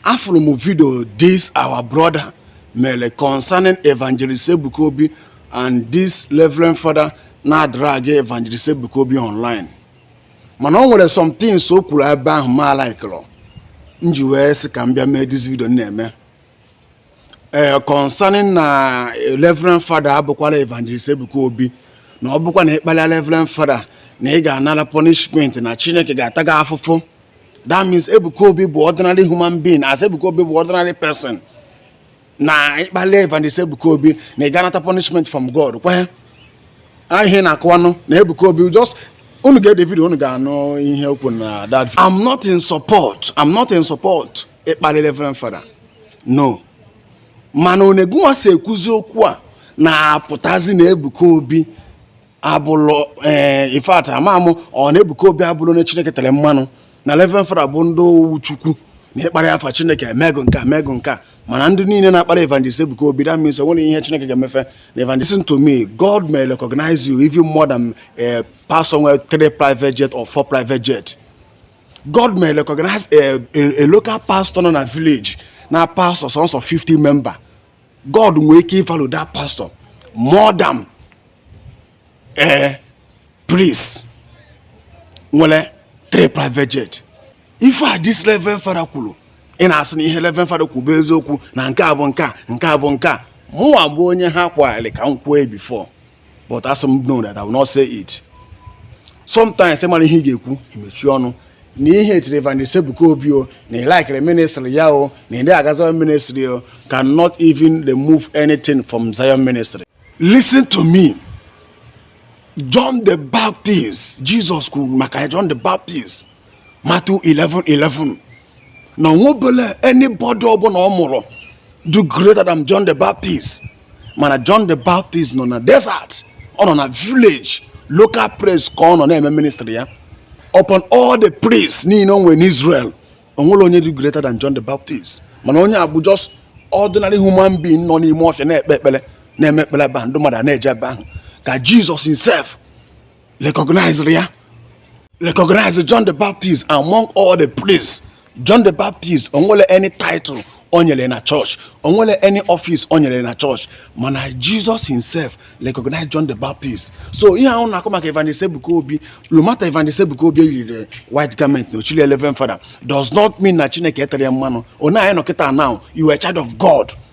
afụrụ m vidio this our brother mere concerning evangelist Ebuka Obi and this reverend father na-adrag evangelist Ebuka Obi online mana o nwere some things o kwuru ebe ahụ m alaikịrọ m ji wee sị ka m bịa mee this video m na-eme ee eh, concerning na eh, Reverend Father abụkwala Evangelist Ebuka Obi na ọ bụkwa na ị kpalịa Reverend Father na ị ga-anara punishment na Chineke ga-ata gị afụfụ that means Ebuka Obi bụ ordinary human being as Ebuka Obi bụ ordinary person na ị kpalịa Evangelist Ebuka Obi na ị ga-anata punishment from God kwa ihe ị na-akọwanụ na Ebuka Obi just unu gee the vidio unu ga-anụ ihe o kwuru na that I'm not in support I'm not in support ịkparị reverend fada no mana one gịnwa si ekwuzi okwu a na-apụtazi na ebuka obi abụlọ ee eh, in fact amamụ ọ na ebuka obi abụlọ onye chineke tere mmanụ na reverend fada bụ ndị nwe chukwu na ị kparịa fa chineke emego nke a emego nke a mana ndị niile na-akparị evangelist Ebuka Obi that means o nwerọ ihe Chineke ga-eme fa na evangelist listen to me God may recognize you even more than a eh, pastor nwere three private jet or four private jet God may recognize eh, a local pastor nọ na village na pastor sọnsọ 50 member god nwee ike ịvalụ that pastor more than eh, priest nwere three private jet ife a dis reverend fada kwuru ị na-asị na ihe reverend fada kwuru bụ eziokwu na nke a bụ nke a nke a bụ nke a mụnwa bụ onye ha kwagharị ka m kwuo bifo but as m know that I will not say it sometimes ị marọ ihe ị ga-ekwu i mechie ọnụ na ị hetịrị Evangelist Ebuka Obi o na ị laikịrọ ministry ya o na ị dị aga Zion ministry o cannot even remove anything from Zion ministry listen to me John the Baptist Jesus kwuru maka John the Baptist Matthew 11 11 na o nwebelọ anybody ọbụla ọ mụrụ dị greater than John the Baptist mana John the Baptist nọ na desert ọ nọ na village local place ka ọ nọ na-eme ministry ya upon all the priests niile o nwere n'Israel o nwerọ onye dị greater than John the Baptist mana onye a bụ just ordinary human being nọ n'ime ọfịa na-ekpe ekpere na-eme ekpere ebe ahụ ndị mmadụ na-eje ebe ahụ ka Jizọs himself recognized ya recognize John the Baptist among all the priests John the Baptist o nwerọ any title o nwere na church o nwerọ any office o nwere na church mana Jesus himself recognize John the Baptist so ihe ahụ ị na-akọ maka Evangelist Ebuka Obi no matter Evangelist Ebuka Obi eyirọ white garment na o chilọ reverend fada does not mean na Chineke eterọ ya mmanụ one anyị nọ kịta now you are a child of God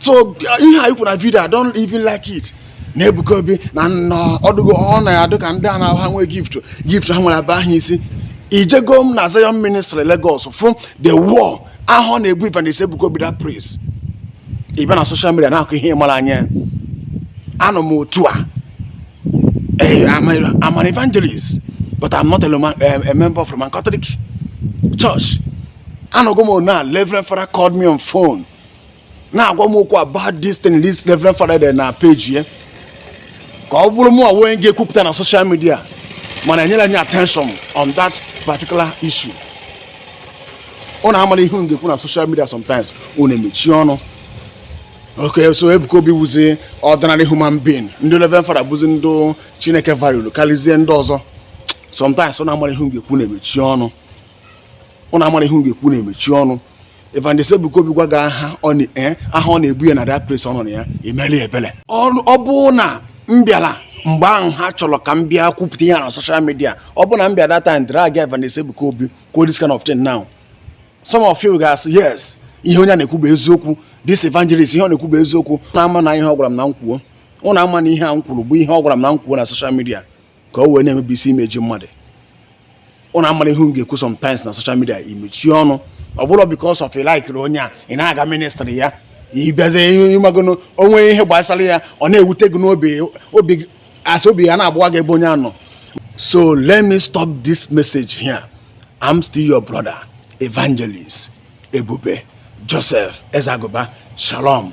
so ihe a i kwuru na video I don't even like it na Ebuka Obi na ọdụgo ọ na-adịka ndị a na ha nwee gift gift ha nwere aba ha isi ejego m na Zion ministry Lagos fụ the war ahụ a na-ebu Evangelist Ebuka Obi that place ị bịa na social media na-akọ ihe ịmara anya anọ m otu a eh, I'm an evangelist but I'm not a, member of Roman Catholic Church anọgo m na Reverend Father called me on phone na-agwa m okwu about this thing this Reverend Father dere na page ya ka ọ bụrụ mụ onwe ga-ekwupụta na social media mana enyerọ m any attention on that particular issue unu amara ihe unu ga-ekwu na social media sometimes unu emechie ọnụ okay so Ebuka Obi bụzi ordinary human being ndị Reverend Father bụzi ndị Chineke value karịzie ndị ọzọ sometimes unu amara ihe unu ga-ekwu unu emechie ọnụ unu amara ihe unu ga-ekwu unu emechie ọnụ Evangelist Ebuka Obi gwa gị agha ọ eh, agha a na-ebu ya na that place unu ya-emeli ya ebele ọ bụ na m bịara mgbe ahụ ha chọrọ ka m bịa kwupụta ihe na social media ọ bụ na m bịa that time drag Evangelist Ebuka Obi kwuo this kind of thing now some of you ga-asị yes ihe onye a na-ekwu bụ eziokwu this evangelist ihe ọ na-ekwu bụ eziokwu na ama na ihe ọ gwara m na m kwuo ụnụ ama na ihe a m kwuru bụ ihe ọ gwara m na m kwuo na social media ka o wee na-emebisi image mmadụ unu amara ihe ị ga-ekwu sometimes na social media imechie ọnụ ọ bụrụ because of ị likeri onye a ị na-aga ministry ya ịbịazie ịmagono o nwee ihe gbasara ya ọ na-ewute gị n'obi asị obi ya na-agbawa gị ebe onye a nọ so let me stop this message here I'm still your brother evangelist Ebube Joseph Ezagoba Shalom